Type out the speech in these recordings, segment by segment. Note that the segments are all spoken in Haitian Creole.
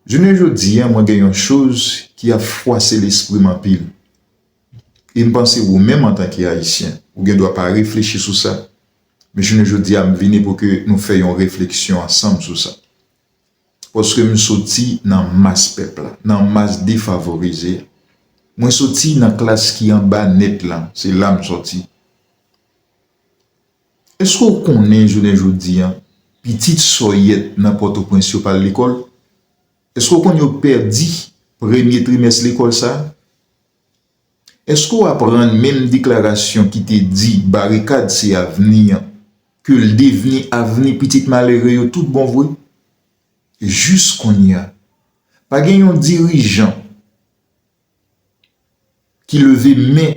Jounen jodi a mwen gen yon choz ki ap fwase lespri m anpil. E m panse wou menm antanke Ayisyen, wou gen dwa pa reflechi sou sa. Men jounen jodi a m vini pou ke nou fè yon refleksyon ansanm sou sa. Paske m soti nan mas pèp la, nan mas defavorize a. Mwen soti nan klas ki anba nèt lan, se la m soti. Èske w konnen jounen jodi a, pitit sòyèt nan Pòtoprens yo pa al lekòl? Èske w konn yo pèdi premye trimès lekòl sa a? Èske w aprann menm deklarasyon ki te di barikad se avni an, ke l devni avni pitit malere yo tout bon vre? Jis kounye a, pa gen yon dirijan. ki leve men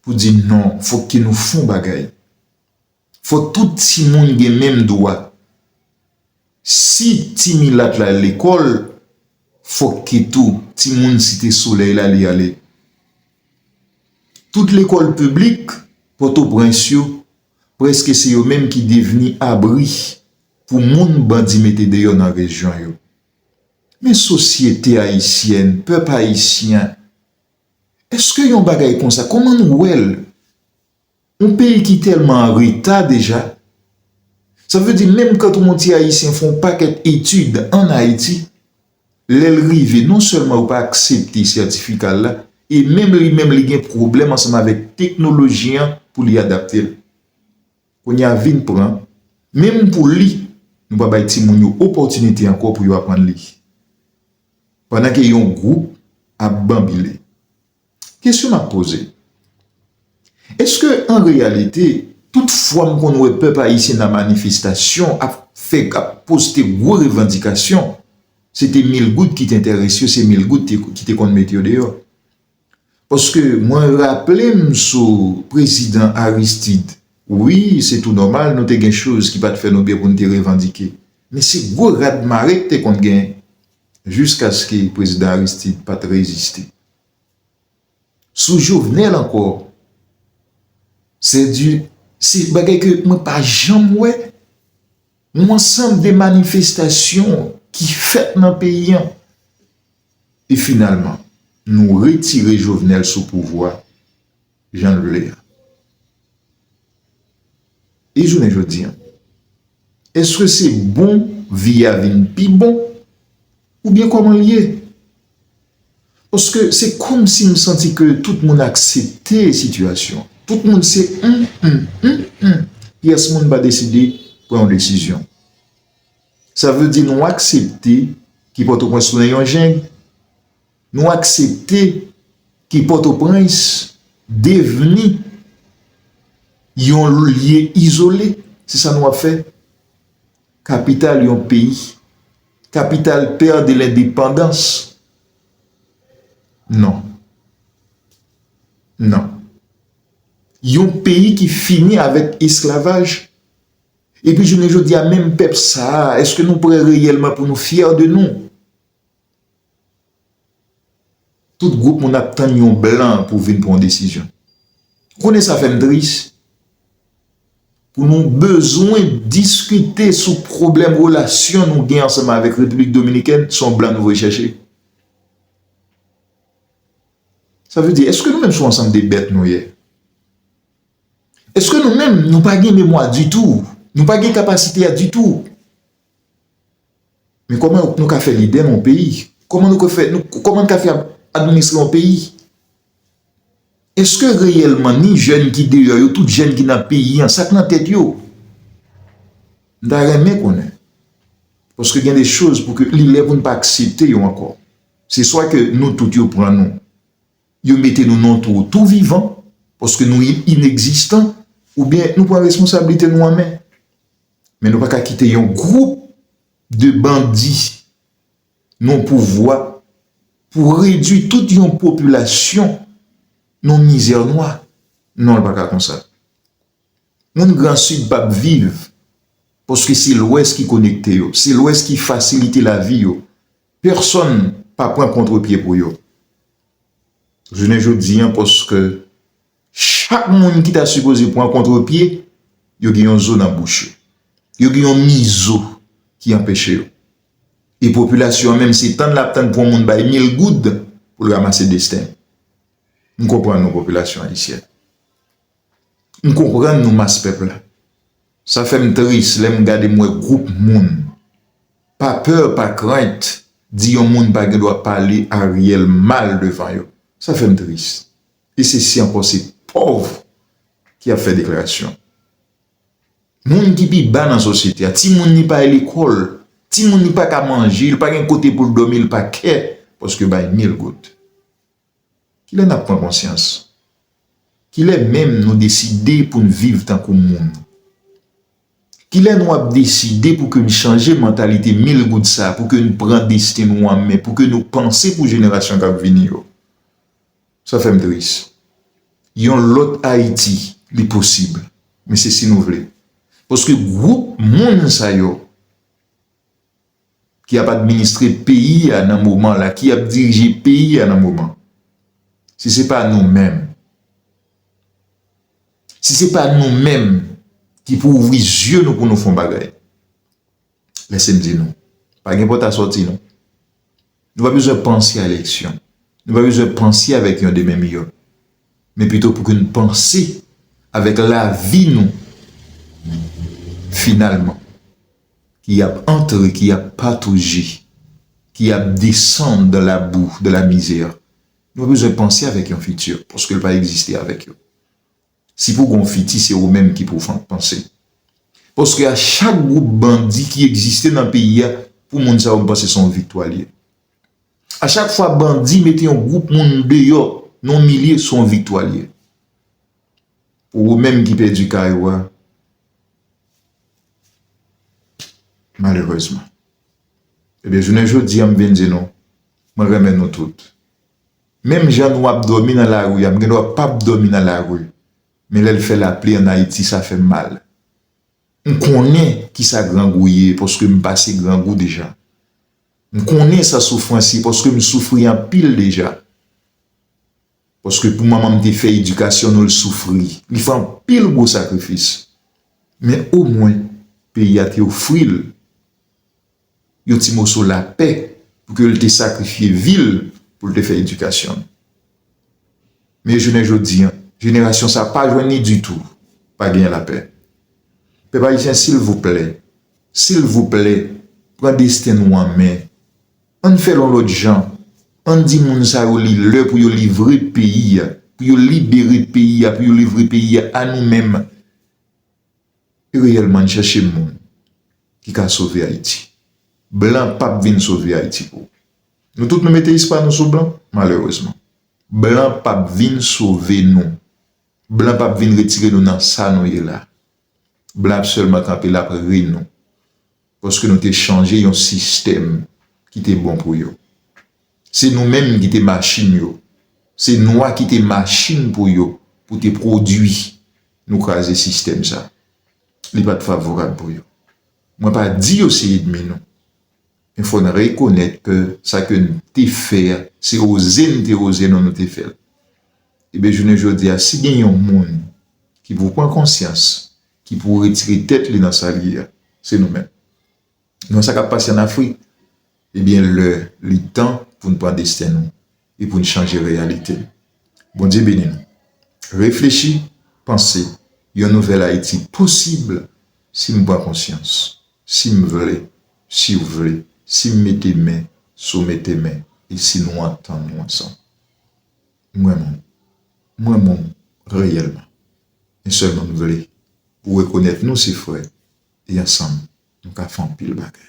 pou di non fok ke nou fon bagay fok tout ti moun gen menm dwa si ti milat la al lekol fok ke tou ti moun site soley la li ale tout lekol piblik potoprens yo preske se yo menm ki devni abri pou moun bandi mete deyo nan rejyon yo. Men sosyete ayisyèn, pèp ayisyen, èske yon bagay konsa, kòman nou wè l? Yon peyi ki tèlman an reta deja, sa vle di menm kantw yon ti ayisyen fè yon pakèt etid an Ayiti, lè l rive non sèlman yo pa aksepte sètifika l la, e menm li menm li gen pwoblèm ansanm avèk teknoloji an pou li adapte l. Kounye a vin pran, menm pou li, nou pa bay timoun yo opòtinite ankò pou yo aprann li. Pandan ke yon gwoup ap banbile. Kesyon m ap poze, Eske an reyalite, tout fwa m konn wè pèp ayisyen nan manifestasyon ap fè, ap poste gwo revandikasyon, se te Milgoud ki te enterese yo, se Milgoud ki te konn mete yo deyò? Paske mwen raple m sou prezidan Aristide, wi se tou nòmal nou te gen choz ki pa t fè nou byen pou n te revandike. Men se gwo rad mare k te konn gen jiskaske prezidan Aristide pa t reziste. Sou Jovenel ankò, se di se bagay ke mwen pa janm wè. yon ansanm de manifestasyon ki fèt nan peyi an, e finalman nou retire Jovenel sou pouvwa jan l vle a. E jounen jodi an, èske se bon vi a vin pi bon? Ou byen koman l ye? Paske se komsi m santi ke tout moun aksepte sitiyasyon an. Tout moun se m, m, m, m. Pyès moun pa deside pran yon desizyon. Sa vle di nou aksepte ke Pòtoprens tounen yon jeng. Nou aksepte ke Pòtoprens devni yon lye izole. Se sa nou ap fè. Kapital yon peyi. Kapital Terre de l'Indépendance. Non. Non. Yon peyi ki fini avèk esklavaj. Epi jounen jodi a menm pèp sa a, èske nou prè reyèlman pou nou fyè de nou? Tout group moun ap tann yon blan pou vin pran yon desizyon. Konnen sa fèm tris pou nou bezwen diskite sou pwoblèm relasyon nou gen ansanm avèk Repiblik Dominikèn se yon blan nou voye chèche. Sa vle di eske nou menm se yon ansanm de bèt nou ye? Eske nou menm nou pa gen memwa ditou? Nou pa gen kapasite a ditou? Men kòman nou ka fè lidè yon peyi? Kòman nou ka fè, kòman nou ka fè administre yon peyi? Eske reyèlman ni jèn ki deyò yo, tout jèn ki nan peyi an, sa k nan tèt yo? M ta renmen konnen. Paske gen de choz pou ke li lè pou n pa aksepte yo ankò. Se swa ke nou tout yo pran nou, yo mete nou nan yon twou tou vivan, paske nou ineksistan, oubyen nou pran responsablite nou an men. Men nou pa ka kite yon gwoup de bandi nan pouvwa pou redwi tout yon popilasyon nan mizè nwa. Non li pa ka konsa. Moun gran sid pa p viv paske se lwès ki konekte yo, se lwès ki fasilite lavi yo. Pèsòn pa pran kontre pye pou yo. Jounen jodi an paske Chak moun ki ta sipoze pran kontrepye, yo gen yon zo nan bouch yo. Yo gen yon mizo ki anpeche yo. E popilasyon an menm se tann l ap tann pou yon moun bay mil goud pou l ramase desten l. M konprann nou popilasyon ayisyèn. M konprann nou mas pèp la. Sa fè m tris lè m gade m wè gwoup moun pa pè pa krent di yon moun pa gen dwa pale Ariel mal devan yo. Sa fè m tris. E se si ankò se pòv ki ap fè deklarasyon. Moun ki pi ba nan sosyete a, timoun li pa e lekòl, timoun li pa ka manje, li pa gen kote pou l dòmi, li pa kè paske yo bay mil goud. Kilè n ap pran konsyans? Kilè menm nou deside pou n viv tankou moun? Kilè nou ap deside pou ke n chanje mantalite mil goud sa, pou ke n pran desten nou an men, pou ke nou panse pou jenerasyon k ap vini yo? Sa fèm tris. Yon lòt Ayiti li posib men se si nou vle. Paske gwoup moun sa yo ki ap administre peyi a nan moman la, ki ap dirije peyi a nan moman. Si se pa nou menm. Si se pa nou menm ki pou ouvri zye nou pou nou fon bagay. Men se m di nou, pa gen pòt a sòti non. Nou pa bezwen panse a eleksyon. Nou pa bezwen panse avèk yon demen miyò. Men pito pou ke nou panse avèk lavi nou finalman. Ki ap antre, ki ap patouji, ki ap desann dan la bou, dan la mizè. Nou pa bezwen panse avèk yon fiti, paske l pa egziste avèk yo. Si pou gon fiti se ou menm ki pou panse. Paske a chak group bandi ki egziste nan peyi a pou moun sa yo m panse se yon viktwa li ye. A chak fwa bandi mete yon group moun deyò nan yon milye se yon viktwa li ye. Pou ou menm ki pèdi kay ou a malerezman. Ebyen jounen jodi a m vin di nou mwen renmen nou tout. Menm jan nou ap dòmi nan lari a, m gen dwa pap dòmi nan lari, men lè l fè lapli an Ayiti sa fè m mal. M konnen kisa grangou ye paske m pase grangou deja. M konnen sa soufrans ye paske m soufri anpil deja. Paske pou manman m te fè edikasyon nou l soufri, li fè anpil gwo sakrifis. Men omwen peyi a te ofri l. yon ti moso lapè pou ke l te sakrifye vi l pou l te fè edikasyon l. Men jounen jodi an, jenerasyon sa pa jwenn ni ditou, pa genyen lapè. Pèp ayisyen silvouplè, silvouplè, pran desten nou an men, an n fè l yon lòt jan, an n di moun sa yo li lè pou yo livre peyi a, pou yo libere peyi a, pou yo livre peyi a a nou menm. Li reyèlman n chèche moun ki ka sove Ayiti. Blan pap vin sove Ayiti pou. Nou tout nou mete is pa nou sou blan, malerezman. Blan pap vin sove nou. Blan pap vin retire nou nan sa nou ye la. Blan ap sèlman kanpe lap ri nou. Paske nou te chanje yon sistèm ki te bon pou yo. Se nou menm ki te machin yo. Se nwa ki te machin pou yo pou te pwodui. Nou kraze sistèm sa. Li pa t favorab pou yo. Mwen pa di yo se edmi nou. Men fò n rekonèt ke sa ke n te fè a, se oze n te oze nou nou te fè l. Ebyen jounen jodi a si gen yon moun ki pou pran konsyans, ki pou retire tèt li nan sa l ye a, se nou menm. Nou wè sa k ap pase ann Afrik? Ebyen, lè li tan pou n pran desten nou e pou n chanje reyalite n. Bondye beni nou. Reflechi, panse, yon nouvèl Ayiti posib si m pran konsyans, si m vle, si w vle, si m mete men, si w mete men e si nou antann nou ansanm. Mwen moum. Mwen moum reyèlman. Men sèlman m vle pou w rekonèt nou se frè e ansanm nou ka fè anpil bagay.